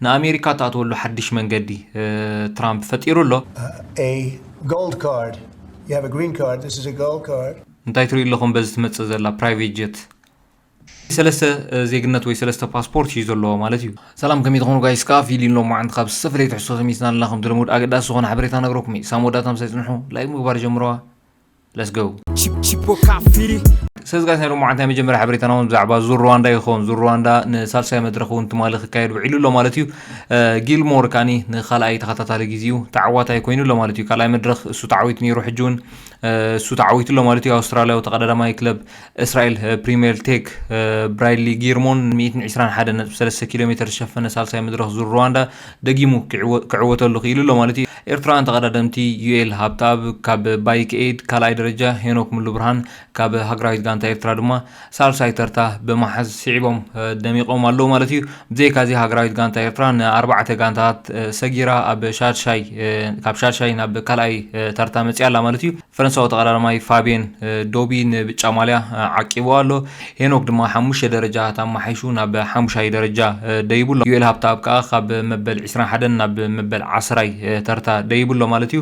ንኣሜሪካ እትኣትወሉ ሓድሽ መንገዲ ትራምፕ ፈጢሩ ኣሎ። እንታይ ትሪኡ ኣለኹም በዚ ትመጽእ ዘላ ፕራይቬት ጀት? ሰለስተ ዜግነት ወይ ሰለስተ ፓስፖርት እዩ ዘለዎ ማለት እዩ። ሰላም ከመይ ትኾኑ ጋይስ ከዓ ፊሊን ሎማዓንቲ ካብ ዝተፈላለየ ትሕዝቶ ተመይትና ኣለና ከምቲ ልሙድ ኣገዳሲ ዝኾነ ሓበሬታ ነግረኩም እየ ሳብ መወዳእታ ምሳይ ፅንሑ ላይክ ምግባር ጀምርዋ let's go ሰዚ ጋዜጠኛ ሎሚ መዓልቲ ናይ መጀመርያ ሓበሬታና እውን ብዛዕባ ዙር ሩዋንዳ ይኸውን ዙር ሩዋንዳ ንሳልሳይ መድረኽ እውን ትማሊ ክካየድ ውዒሉ ኣሎ ማለት እዩ ጊልሞር ካኒ ንካልኣይ ተኸታታሊ ግዜ እዩ ተዓዋታይ ኮይኑ ኣሎ ማለት እዩ ካልኣይ መድረኽ እሱ ተዓዊቱ ነይሩ ሕጂ እውን እሱ ተዓዊቱ ኣሎ ማለት እዩ ኣውስትራልያዊ ተቐዳዳማይ ክለብ እስራኤል ፕሪምየር ቴክ ብራይድሊ ጊርሞን ሚእትን ዕስራን ሓደ ነጥቢ ሰለስተ ኪሎ ሜተር ዝሸፈነ ሳልሳይ መድረኽ ዙር ሩዋንዳ ደጊሙ ክዕወ- ክዕወተሉ ክኢሉ ኣሎ ማለት እዩ ኤርትራውያን ተቐዳደምቲ ዩኤል ሃብተኣብ ካብ ባይክ ኤድ ካልኣይ ደረጃ ሄኖክ ምሉ ብርሃን ካብ ሃገራዊት ጋንታ ኤርትራ ድማ ሳልሳይ ተርታ ብመሓዝ ስዒቦም እ፣ ደሚቖም ኣለዉ ማለት እዩ ብዘይካ እዚ ሃገራዊት ጋንታ ኤርትራ ንኣርባዕተ ጋንታታት እ፣ ሰጊራ ኣብ ሻድሻይ እ፣ ካብ ሻድሻይ ናብ ካልኣይ እ፣ ተርታ መፅያ ኣላ ማለት እዩ ፈረንሳዊ ተቐዳዳማይ ፋብየን ዶቢ ንብጫ ማልያ ዓቂብዎ ኣሎ። ሄኖክ ድማ ሓሙሽተ ደረጃታት ኣመሓይሹ ናብ ሓሙሻይ ደረጃ ደይቡ ኣሎ። ዩኤል ሃብተኣብ ከኣ ካብ መበል ዕስራን ሓደን ናብ መበል ዓስራይ ተርታ ደይቡ ኣሎ ማለት እዩ።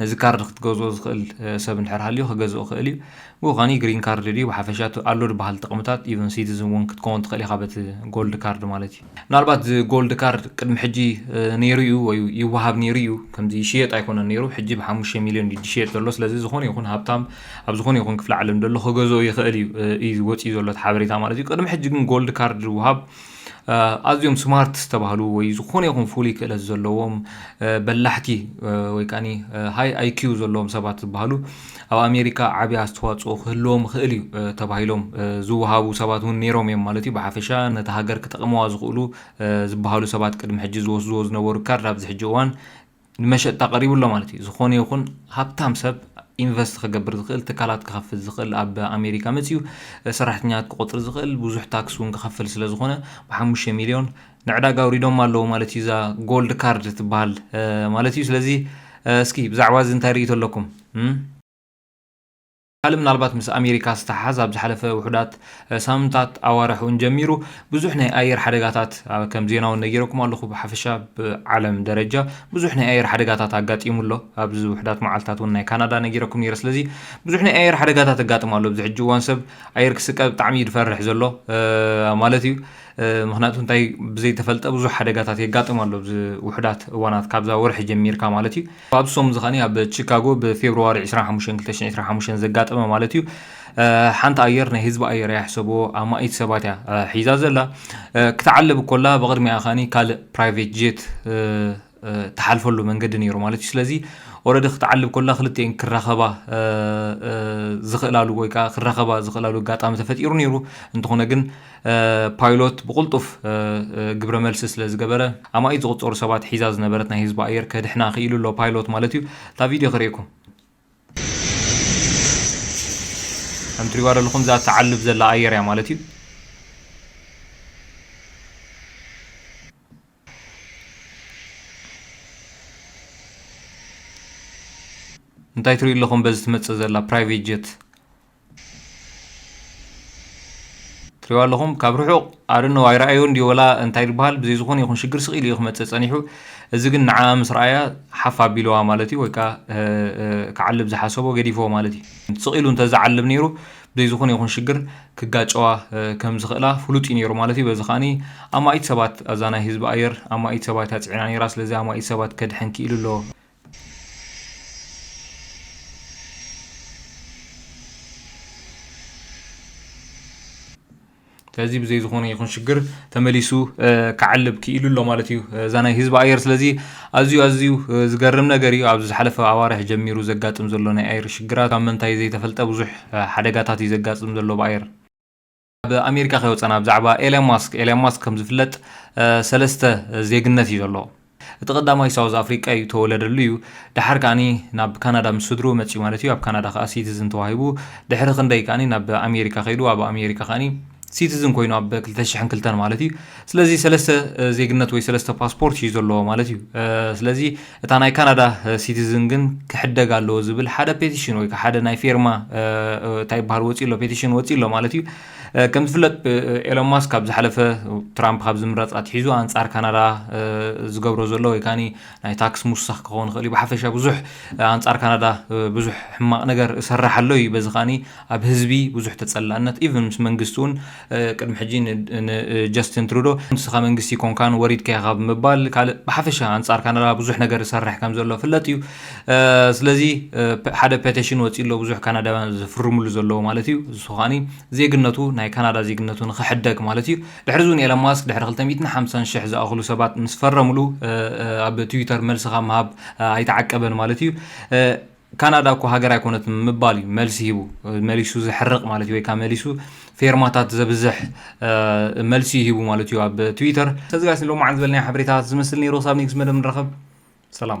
ነዚ ካርድ ክትገዝኦ ዝኽእል ሰብ እንድሕር ሃልዩ ክገዝኦ ይኽእል እዩ። ብወኻኒ ግሪን ካርድ ድዩ ብሓፈሻ እቲ ኣሎ ድበሃል ጥቕምታት ኢቨን ሲቲዝን ውን ክትከውን ትኽእል ኢኻ በቲ ጎልድ ካርድ ማለት እዩ። ምናልባት እዚ ጎልድ ካርድ ቅድሚ ሕጂ ነይሩ እዩ ወይ ይወሃብ ነይሩ እዩ ከምዚ ይሽየጥ ኣይኮነን ነይሩ ሕጂ ብሓሙሽተ ሚልዮን እዩ ዝሽየጥ ዘሎ ስለዚ ዝኾነ ይኹን ሃብታም ኣብ ዝኾነ ይኹን ክፍለ ዓለም ዘሎ ክገዝኦ ይኽእል እዩ እዩ ወጺኡ ዘሎ እቲ ሓበሬታ ማለት እዩ። ቅድሚ ሕጂ ግን ጎልድ ካርድ ዝወሃብ ኣዝዮም ስማርት ዝተባህሉ ወይ ዝኾነ ይኹን ፍሉይ ክእለት ዘለዎም በላሕቲ ወይ ከዓኒ ሃይ ኣይኪዩ ዘለዎም ሰባት ዝበሃሉ ኣብ ኣሜሪካ ዓብዪ ኣስተዋፅኦ ክህልዎም ይኽእል እዩ ተባሂሎም ዝወሃቡ ሰባት እውን ነይሮም እዮም ማለት እዩ ብሓፈሻ ነቲ ሃገር ክጠቕመዋ ዝኽእሉ ዝበሃሉ ሰባት ቅድሚ ሕጂ ዝወስድዎ ዝነበሩ ካርድ ኣብዚ ሕጂ እዋን ንመሸጣ ቀሪቡ ኣሎ ማለት እዩ። ዝኾነ ይኹን ሃብታም ሰብ ኢንቨስት ክገብር ዝኽእል ትካላት ክኸፍት ዝኽእል ኣብ ኣሜሪካ መፅዩ ሰራሕተኛታት ክቆፅር ዝኽእል ብዙሕ ታክስ እውን ክኸፍል ስለ ዝኾነ ብሓሙሽተ ሚሊዮን ንዕዳጋ ኣውሪዶም ኣለዎ ማለት እዩ እዛ ጎልድ ካርድ ትበሃል ማለት እዩ ስለዚ እስኪ ብዛዕባ እዚ እንታይ ርእይቶ ኣለኩም ካልእ ምናልባት ምስ ኣሜሪካ ዝተሓሓዝ ኣብ ዝሓለፈ ውሑዳት ሳምንታት ኣዋርሕ እውን ጀሚሩ ብዙሕ ናይ ኣየር ሓደጋታት ከም ዜና እውን ነጊረኩም ኣለኹ ብሓፈሻ ብዓለም ደረጃ ብዙሕ ናይ ኣየር ሓደጋታት ኣጋጢሙ ኣሎ ኣብዚ ውሕዳት መዓልትታት እውን ናይ ካናዳ ነጊረኩም ነይረ ስለዚ ብዙሕ ናይ ኣየር ሓደጋታት ኣጋጥሙ ኣሎ ኣብዚ ሕጂ እዋን ሰብ ኣየር ክስቀ ብጣዕሚ እዩ ዝፈርሕ ዘሎ ማለት እዩ ምክንያቱ እንታይ ብዘይተፈልጠ ብዙሕ ሓደጋታት የጋጥም ኣሎ ውሕዳት እዋናት ካብዛ ወርሒ ጀሚርካ ማለት እዩ ፋብሶም እዚ ከኣ ኣብ ቺካጎ ብፌብርዋሪ ዕስራን ሓሙሽተን ክልተ ሽሕን ዕስራን ሓሙሽተን ዘጋጠመ ማለት እዩ ሓንቲ ኣየር ናይ ህዝቢ ኣየር እያ ሕሰብዎ ኣማኢት ሰባት እያ ሒዛ ዘላ ክትዓልብ ኮላ ብቕድሚኣ ከኣ ካልእ ፕራይቬት ጄት ትሓልፈሉ መንገዲ ነይሩ ማለት እዩ ስለዚ ኦረዲ ክትዓልብ ኮላ ክልቲኤን ክራኸባ ዝኽእላሉ ወይ ከዓ ክራኸባ ዝኽእላሉ ኣጋጣሚ ተፈጢሩ ነይሩ እንተኾነ ግን ፓይሎት ብቕልጡፍ ግብረ መልሲ ስለ ዝገበረ፣ ኣማኢት ዝቑጸሩ ሰባት ሒዛ ዝነበረት ናይ ህዝቢ ኣየር ከድሕና ክኢሉ ኣሎ፣ ፓይሎት ማለት እዩ። እታ ቪድዮ ክርእየኩም። ከም ትሪእዋ ዘለኹም እዛ እትዓልብ ዘላ ኣየር እያ ማለት እዩ። እንታይ ትሪኡ ኣለኹም በዚ ትመጽእ ዘላ ፕራይቬት ጀት። ትሪእዋ ኣለኹም ካብ ርሑቕ I don't know ኣይረኣዮን ድዩ ወላ እንታይ ድበሃል ብዘይ ዝኾነ ይኹን ሽግር ስቕ ኢሉ እዩ ክመጽእ ጸኒሑ እዚ ግን ንዓኣ ምስ ረኣያ ሓፍ ኣቢልዋ ማለት እዩ ወይ ከኣ ክዓልብ ዝሓሰቦ ገዲፍዎ ማለት እዩ ስቕ ኢሉ እንተ ዝዓልብ ነይሩ ብዘይ ዝኾነ ይኹን ሽግር ክጋጨዋ ከም ዝኽእላ ፍሉጥ እዩ ነይሩ ማለት እዩ በዚ ከኣ ኣማኢት ሰባት ኣዛ ናይ ህዝቢ ኣየር ኣማኢት ሰባት እያ ጽዒና ነይራ ስለዚ ኣማኢት ሰባት ከድሕን ክኢሉ ኣሎ ስለዚ ብዘይ ዝኾነ ይኹን ሽግር ተመሊሱ ክዓልብ ክኢሉ ኣሎ ማለት እዩ እዛ ናይ ህዝቢ ኣየር ስለዚ ኣዝዩ ኣዝዩ ዝገርም ነገር እዩ ኣብዚ ዝሓለፈ ኣዋርሕ ጀሚሩ ዘጋጥም ዘሎ ናይ ኣየር ሽግራት ካብ ምንታይ ዘይተፈልጠ ብዙሕ ሓደጋታት እዩ ዘጋጥም ዘሎ ብኣየር ኣብ ኣሜሪካ ከይወፀና ብዛዕባ ኤለን ማስክ ኤለን ማስክ ከም ዝፍለጥ ሰለስተ ዜግነት እዩ ዘለዎ እቲ ቀዳማይ ሳውዝ ኣፍሪቃ እዩ ተወለደሉ እዩ ድሓር ከዓኒ ናብ ካናዳ ምስ ስድሩ መፅኡ ማለት እዩ ኣብ ካናዳ ከዓ ሲቲዝን ተዋሂቡ ድሕሪ ክንደይ ከዓኒ ናብ ኣሜሪካ ከይዱ ኣብ ኣሜሪካ ከዓኒ ሲቲዝን ኮይኑ ኣብ 2002 ማለት እዩ ስለዚ ሰለስተ ዜግነት ወይ ሰለስተ ፓስፖርት እዩ ዘለዎ ማለት እዩ ስለዚ እታ ናይ ካናዳ ሲቲዝን ግን ክሕደግ ኣለዎ ዝብል ሓደ ፔቲሽን ወይ ሓደ ናይ ፌርማ እንታይ ይበሃል ወፂኡ ኣሎ ፔቲሽን ወፂኡ ኣሎ ማለት እዩ ከም ዝፍለጥ ኤሎን ማስክ ካብ ዝሓለፈ ትራምፕ ካብ ዝምረፅ ኣትሒዙ ኣንፃር ካናዳ ዝገብሮ ዘሎ ወይ ካኒ ናይ ታክስ ምውሳኽ ክኸውን ይኽእል እዩ ብሓፈሻ ብዙሕ ኣንፃር ካናዳ ብዙሕ ሕማቕ ነገር እሰራሕ ኣሎ እዩ በዚ ከዓኒ ኣብ ህዝቢ ብዙሕ ተፀላእነት ኢቨን ምስ መንግስቲ እውን ቅድሚ ሕጂ ንጀስትን ትሩዶ ንስኻ መንግስቲ ኮንካን ወሪድካ ኢኻ ብምባል ካልእ ብሓፈሻ ኣንጻር ካናዳ ብዙሕ ነገር ዝሰርሕ ከም ዘሎ ፍለጥ እዩ ስለዚ ሓደ ፔቴሽን ወፂኡ ኣሎ ብዙሕ ካናዳውያን ዝፍርምሉ ዘለዎ ማለት እዩ እሱ ከዓኒ ዜግነቱ ናይ ካናዳ ዜግነቱ ንክሕደግ ማለት እዩ ድሕሪ እውን ኤለን ማስክ ድሕሪ 250 ሽሕ ዝኣኽሉ ሰባት ምስ ፈረምሉ ኣብ ትዊተር መልሲ ካብ ምሃብ ኣይተዓቀበን ማለት እዩ ካናዳ እኮ ሃገር ኣይኮነትን ምባል እዩ መልሲ ሂቡ መሊሱ ዘሕርቅ ማለት እዩ ወይ ከዓ መሊሱ ፌርማታት ዘብዝሕ መልሲ ሂቡ ማለት እዩ ኣብ ትዊተር ስለዚ ጋይስ ሎማዓንቲ ዝበልናዮ ሓበሬታታት ዝመስል ነይሩ ክሳብ ኔክስት መደብ ንራኸብ ሰላም